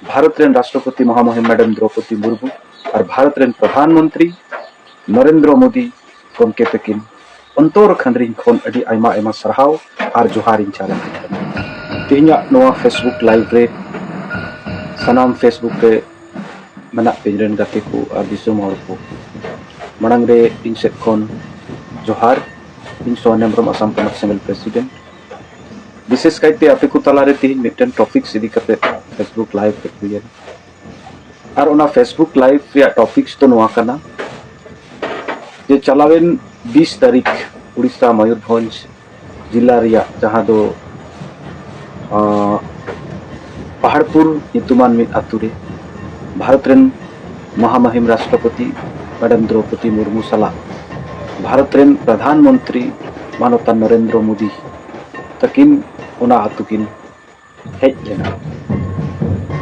ᱵᱷᱟᱨᱚᱛ ᱨᱮᱱ ᱨᱟᱥᱴᱨᱚᱯᱚᱛᱤ ᱢᱚᱦᱟᱢᱚᱦᱤᱢ ᱢᱮᱰᱟᱢ ᱫᱨᱚᱯᱚᱫᱤ ᱢᱩᱨᱢᱩ ᱟᱨ ᱵᱷᱟᱨᱚᱛ ᱨᱮᱱ ᱯᱨᱚᱫᱷᱟᱱ ᱢᱚᱱᱛᱨᱤ ᱱᱚᱨᱮᱱᱫᱨᱚ ᱢᱳᱫᱤ ᱜᱚᱢᱠᱮ ᱛᱟᱹᱠᱤᱱ ᱚᱱᱛᱚᱨ ᱠᱷᱟᱱᱫᱨᱤᱧ ᱠᱷᱚᱱ ᱟᱹᱰᱤ ᱟᱭᱢᱟ ᱟᱭᱢᱟ ᱥᱟᱨᱦᱟᱣ ᱟᱨ ᱡᱚᱦᱟᱨᱤᱧ ᱪᱟᱞ ᱟᱠᱚ ᱠᱟᱱᱟ ᱛᱮᱦᱮᱧᱟᱜ ᱱᱚᱣᱟ ᱯᱷᱮᱥᱵᱩᱠ ᱞᱟᱭᱤᱵᱷ ᱨᱮ ᱥᱟᱱᱟᱢ ᱯᱷᱮᱥᱵᱩᱠ ᱨᱮ ᱢᱮᱱᱟᱜ ᱯᱮ ᱨᱮᱱ ᱜᱟᱛᱮ ᱠᱚ ᱟᱨ ᱫᱤᱥᱚᱢ ᱦᱚᱲ ᱠᱚ ᱢᱟᱲᱟᱝ ᱨᱮ ᱤᱧ ᱥᱮᱫ ᱠᱷᱚᱱ ᱡᱚᱦᱟᱨ ᱤᱧ ᱥᱚᱦᱚᱱ ᱦᱮᱢᱵᱨᱚᱢ ᱟᱥᱟᱢ ᱯᱚᱱᱚᱛ ᱥᱤᱝᱜᱮᱞ ᱯᱨᱮᱥᱤᱰᱮᱱᱴ ᱵᱤᱥᱮᱥ ᱠᱟᱭᱛᱮ ᱟᱯᱮ ᱠᱚ ᱛᱟᱞᱟᱨᱮ ᱛᱮᱦᱮᱧ ᱢᱤᱫᱴᱮᱱ ᱴᱚᱯᱤᱠᱥ ᱤᱫᱤ ᱠᱟᱛᱮ ᱯᱷᱮᱥᱵᱩᱠ ᱞᱟᱭᱤᱵᱷ ᱨᱮ ᱦᱩᱭᱮᱱᱟ ᱟᱨ ᱚᱱᱟ ᱯᱷᱮᱥᱵᱩᱠ ᱞᱟᱭᱤᱵᱷ ᱨᱮᱭᱟᱜ ᱴᱚᱯᱤᱠᱥ ᱫᱚ ᱱᱚᱣᱟ ᱠᱟᱱᱟ ᱡᱮ ᱪᱟᱞᱟᱣᱮᱱ ᱵᱤᱥ ᱛᱟᱹᱨᱤᱠᱷ ᱩᱲᱤᱥᱥᱟ ᱢᱚᱭᱩᱨᱵᱷᱚᱸᱡᱽ ᱡᱮᱞᱟ ᱨᱮᱭᱟᱜ ᱡᱟᱦᱟᱸ ᱫᱚ ᱯᱟᱦᱟᱲᱯᱩᱨ ᱧᱩᱛᱩᱢᱟᱱ ᱢᱤᱫ ᱟᱛᱳ ᱨᱮ ᱵᱷᱟᱨᱚᱛ ᱨᱮᱱ ᱢᱚᱦᱟᱢᱟᱦᱤᱢ ᱨᱟᱥᱴᱨᱚᱯᱚᱛᱤ ᱢᱮᱰᱟᱢ ᱫᱨᱚᱣᱯᱚᱫᱤ ᱢᱩᱨᱢᱩ ᱥᱟᱞᱟᱜ ᱵᱷᱟᱨᱚᱛ ᱨᱮᱱ ᱯᱨᱚᱫᱷᱟᱱ ᱢᱚᱱᱛᱨᱤ ᱢᱟᱱᱚᱛᱟᱱ ᱱᱚᱨᱮᱱᱫᱨᱚ ᱢᱳᱫᱤ ᱛᱟᱹᱠᱤᱱ ᱚᱱᱟ ᱟᱹᱛᱩ ᱠᱤᱱ ᱦᱮᱡ ᱞᱮᱱᱟ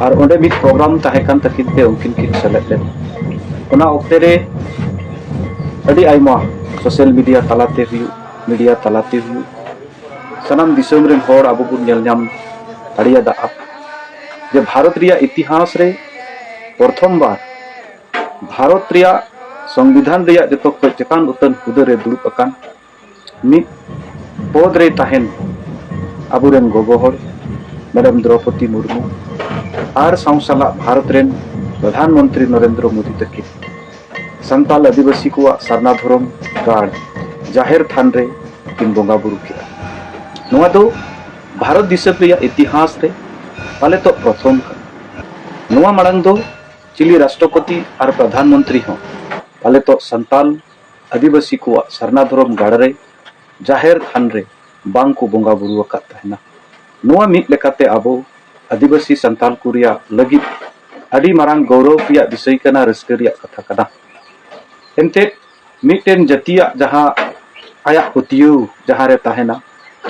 ᱟᱨ ᱚᱸᱰᱮ ᱢᱤᱫ ᱯᱨᱳᱜᱨᱟᱢ ᱛᱟᱦᱮᱸ ᱠᱟᱱ ᱛᱟᱹᱠᱤᱱ ᱛᱮ ᱩᱱᱠᱤᱱ ᱠᱤᱱ ᱥᱮᱞᱮᱫ ᱞᱮᱱᱟ ᱚᱱᱟ ᱚᱠᱛᱮ ᱨᱮ ᱟᱹᱰᱤ ᱟᱭᱢᱟ ᱥᱳᱥᱟᱞ ᱢᱤᱰᱤᱭᱟ ᱛᱟᱞᱟᱛᱮ ᱦᱩᱭᱩᱜ ᱢᱤᱰᱤᱭᱟ ᱛᱟᱞᱟᱛᱮ ᱦᱩᱭᱩᱜ ᱥᱟᱱᱟᱢ ᱫᱤᱥᱚᱢ ᱨᱮᱱ ᱦᱚᱲ ᱟᱵᱚ ᱵᱚᱱ ᱧᱮᱞ ᱧᱟᱢ ᱫᱟᱲᱮᱭᱟᱫᱟ ᱡᱮ ᱵᱷᱟᱨᱚᱛ ᱨᱮᱭᱟᱜ ᱤᱛᱤᱦᱟᱥ ᱨᱮ ᱯᱨᱚᱛᱷᱚᱢ ᱵᱟᱨ ᱵᱷᱟᱨᱚᱛ ᱨᱮᱭᱟᱜ ᱥᱚᱝᱵᱤᱫᱷᱟᱱ ᱨᱮᱭᱟᱜ ᱡᱚᱛᱚ ᱠᱷᱚᱱ ᱪᱮᱛᱟᱱ ᱩᱛᱟᱹᱱ ᱦᱩᱫᱟᱹ ᱨᱮ ᱫᱩᱲᱩᱵ ᱟᱠᱟᱱ ᱢᱤᱫ ᱯᱚᱫ ᱨᱮ ᱛᱟᱦᱮᱱ ᱟᱵᱚᱨᱮᱱ ᱜᱚᱜᱚ ᱦᱚᱲ ᱢᱮᱰᱟᱢ ᱫᱨᱚᱯᱚᱫᱤ ᱢᱩᱨᱢᱩ ᱟᱨ ᱥᱟᱶ ᱥᱟᱞᱟᱜ ᱵᱷᱟᱨᱚᱛ ᱨᱮᱱ ᱯᱨᱚᱫᱷᱟᱱ ᱢᱚᱱᱛᱨᱤ ᱱᱚᱨᱮᱱᱫᱨᱚ ᱢᱳᱫᱤ ᱛᱟᱹᱠᱤᱱ ᱥᱟᱱᱛᱟᱞ ᱟᱹᱫᱤᱵᱟᱹᱥᱤ ᱠᱚᱣᱟᱜ ᱥᱟᱨᱱᱟ ᱫᱷᱚᱨᱚᱢ ᱜᱟᱲ ᱡᱟᱦᱮᱨ ᱛᱷᱟᱱ ᱨᱮ ᱠᱤᱱ ᱵᱚᱸᱜᱟ ᱵᱩᱨᱩ ᱠᱮᱫᱟ ᱱᱚᱣᱟ ᱫᱚ ᱵᱷᱟᱨᱚᱛ ᱫᱤᱥᱚᱢ ᱨᱮᱭᱟᱜ ᱤᱛᱤᱦᱟᱥ ᱨᱮ ᱯᱟᱞᱮᱛᱚᱜ ᱯᱨᱚᱛᱷᱚᱢ ᱠᱟᱱᱟ ᱱᱚᱣᱟ ᱢᱟᱲᱟᱝ ᱫᱚ ᱪᱤᱞᱤ ᱨᱟᱥᱴᱨᱚᱯᱚᱛᱤ ᱟᱨ ᱯᱨᱚᱫᱷᱟᱱ ᱢᱚᱱᱛᱨᱤ ᱦᱚᱸ ᱯᱟᱞᱮᱛᱚᱜ ᱥᱟᱱᱛᱟᱞ ᱟᱹᱫᱤᱵᱟᱹᱥᱤ ᱠᱚᱣᱟᱜ ᱥᱟᱨᱱᱟ ᱫᱷᱚᱨᱚᱢ ᱜᱟᱲ ᱨᱮ ᱡᱟᱦᱮᱨ ᱛᱷᱟᱱ ᱨᱮ ᱵᱟᱝ ᱠᱚ ᱵᱚᱸᱜᱟ ᱵᱩᱨᱩ ᱟᱠᱟᱫ ᱛᱟᱦᱮᱱᱟ ᱱᱚᱣᱟ ᱢᱤᱫ ᱞᱮᱠᱟᱛᱮ ᱟᱵᱚ ᱟᱹᱫᱤᱵᱟᱹᱥᱤ ᱥᱟᱱᱛᱟᱞ ᱠᱚ ᱨᱮᱭᱟᱜ ᱞᱟᱹᱜᱤᱫ ᱟᱹᱰᱤ ᱢᱟᱨᱟᱝ ᱜᱚᱨᱚᱵᱽ ᱨᱮᱭᱟᱜ ᱵᱤᱥᱚᱭ ᱠᱟᱱᱟ ᱨᱟᱹᱥᱠᱟᱹ ᱨᱮᱭᱟᱜ ᱠᱟᱛᱷᱟ ᱠᱟᱱᱟ ᱮᱱᱛᱮᱫ ᱢᱤᱫᱴᱮᱱ ᱡᱟᱹᱛᱤᱭᱟᱜ ᱡᱟᱦᱟᱸ ᱟᱭᱟᱜ ᱯᱟᱹᱛᱭᱟᱹᱣ ᱡᱟᱦᱟᱸ ᱨᱮ ᱛᱟᱦᱮᱱᱟ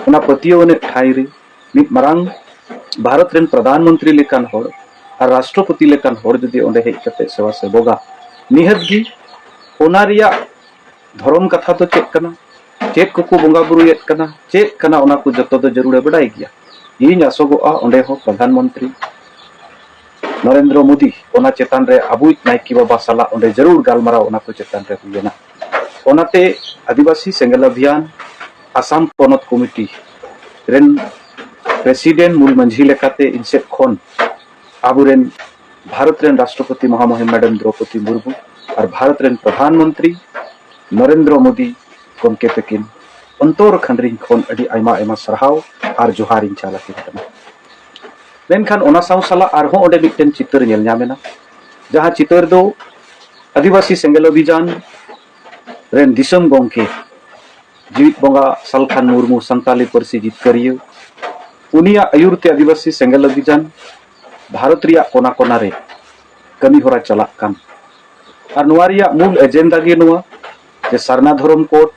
ᱚᱱᱟ ᱯᱟᱹᱛᱭᱟᱹᱣ ᱟᱱᱮᱡ ᱴᱷᱟᱶ ᱨᱮ ᱢᱤᱫ ᱢᱟᱨᱟᱝ ᱵᱷᱟᱨᱚᱛ ᱨᱮᱱ ᱯᱨᱚᱫᱷᱟᱱ ᱢᱚᱱᱛᱨᱤ ᱞᱮᱠᱟᱱ ᱦᱚᱲ ᱟᱨ ᱨᱟᱥᱴᱨᱚᱯᱚᱛᱤ ᱞᱮᱠᱟᱱ ᱦᱚᱲ ᱡᱩᱫᱤ ᱚᱸᱰᱮ ᱦᱮᱡ ᱠᱟᱛᱮ ᱥᱮᱵᱟ ᱥᱮᱵᱚᱜᱟ ᱱᱤᱦᱟᱹᱛ ᱜᱮ ᱚᱱᱟ ᱨᱮᱭᱟᱜ ᱫᱷᱚᱨᱚᱢ ᱠᱟᱛᱷᱟ ᱫᱚ ᱪᱮᱫ ᱠᱟᱱᱟ ᱪᱮᱫ ᱠᱚᱠᱚ ᱵᱚᱸᱜᱟ ᱵᱩᱨᱩᱭᱮᱫ ᱠᱟᱱᱟ ᱪᱮᱫ ᱠᱟᱱᱟ ᱚᱱᱟ ᱠᱚ ᱡᱚᱛᱚ ᱫᱚ ᱡᱟᱹᱨᱩᱲᱮ ᱵᱟᱰᱟᱭ ᱜᱮᱭᱟ ᱤᱧ ᱟᱥᱚᱜᱚᱜᱼᱟ ᱚᱸᱰᱮ ᱦᱚᱸ ᱯᱨᱚᱫᱷᱟᱱ ᱢᱚᱱᱛᱨᱤ ᱱᱚᱨᱮᱱᱫᱨᱚ ᱢᱳᱫᱤ ᱚᱱᱟ ᱪᱮᱛᱟᱱ ᱨᱮ ᱟᱵᱚᱭᱤᱡ ᱱᱟᱭᱠᱮ ᱵᱟᱵᱟ ᱥᱟᱞᱟᱜ ᱚᱸᱰᱮ ᱡᱟᱹᱨᱩᱲ ᱜᱟᱞᱢᱟᱨᱟᱣ ᱚᱱᱟ ᱠᱚ ᱪᱮᱛᱟᱱ ᱨᱮ ᱦᱩᱭ ᱞᱮᱱᱟ ᱚᱱᱟᱛᱮ ᱟᱹᱫᱤᱵᱟᱹᱥᱤ ᱥᱮᱸᱜᱮᱞ ᱚᱵᱷᱤᱭᱟᱱ ᱟᱥᱟᱢ ᱯᱚᱱᱚᱛ ᱠᱚᱢᱤᱴᱤ ᱨᱮᱱ ᱯᱨᱮᱥᱤᱰᱮᱱᱴ ᱢᱩᱞ ᱢᱟᱹᱡᱷᱤ ᱞᱮᱠᱟᱛᱮ ᱤᱧ ᱥᱮᱫ ᱠᱷᱚᱱ ᱟᱵᱚᱨᱮᱱ ᱵᱷᱟᱨᱚᱛ ᱨᱮᱱ ᱨᱟᱥᱴᱨᱚᱯᱚᱛᱤ ᱢᱚᱦᱟᱢᱚᱦᱤᱢ ᱢᱮᱰᱟᱢ ᱫᱨᱚᱯᱚᱫᱤ ᱢᱩᱨᱢᱩ ᱟᱨ ᱵᱷᱟᱨᱚᱛ ᱨᱮᱱ ᱯᱨᱚᱫᱷᱟᱱ ᱢᱚᱱᱛᱨᱤ ᱱᱚᱨᱮᱱᱫᱨᱚ ᱢᱳᱫᱤ ᱜᱚᱢᱠᱮ ᱛᱟᱹᱠᱤᱱ ᱚᱱᱛᱚᱨ ᱠᱷᱟᱱᱰᱨᱤᱧ ᱠᱷᱚᱱ ᱟᱹᱰᱤ ᱟᱭᱢᱟ ᱟᱭᱢᱟ ᱥᱟᱨᱦᱟᱣ ᱟᱨ ᱡᱚᱦᱟᱨᱤᱧ ᱪᱟᱞ ᱟᱹᱠᱤᱱ ᱠᱟᱱᱟ ᱢᱮᱱᱠᱷᱟᱱ ᱚᱱᱟ ᱥᱟᱶ ᱥᱟᱞᱟᱜ ᱟᱨᱦᱚᱸ ᱚᱸᱰᱮ ᱢᱤᱫᱴᱮᱱ ᱪᱤᱛᱟᱹᱨ ᱧᱮᱞ ᱧᱟᱢ ᱮᱱᱟ ᱡᱟᱦᱟᱸ ᱪᱤᱛᱟᱹᱨ ᱫᱚ ᱟᱹᱫᱤᱵᱟᱹᱥᱤ ᱥᱮᱸᱜᱮᱞ ᱚᱵᱷᱤᱡᱟᱱ ᱨᱮᱱ ᱫᱤᱥᱚᱢ ᱜᱚᱢᱠᱮ ᱡᱤᱣᱤᱫ ᱵᱚᱸᱜᱟ ᱥᱟᱞᱠᱷᱟᱱ ᱢᱩᱨᱢᱩ ᱥᱟᱱᱛᱟᱞᱤ ᱯᱟᱹᱨᱥᱤ ᱡᱤᱛᱠᱟᱹᱨᱤᱭᱟᱹ ᱩᱱᱤᱭᱟᱜ ᱟᱹᱭᱩᱨ ᱛᱮ ᱟᱹᱫᱤᱵᱟᱹᱥᱤ ᱥᱮᱸᱜᱮᱞ ᱚᱵᱷᱤᱡᱟᱱ ᱵᱷᱟᱨᱚᱛ ᱨᱮᱭᱟᱜ ᱠᱚᱱᱟ ᱠᱚᱱᱟ ᱨᱮ ᱠᱟᱹᱢᱤ ᱦᱚᱨᱟ ᱪᱟᱞᱟᱜ ᱠᱟᱱ ᱟᱨ ᱱᱚᱣᱟ ᱨᱮᱭᱟᱜ ᱢᱩᱞ ᱮᱡᱮᱱᱰᱟ ᱜᱮ ᱱᱚᱣᱟ ᱡᱮ ᱥᱟᱨᱱᱟ ᱫᱷᱚᱨᱚᱢ ᱠᱳᱰ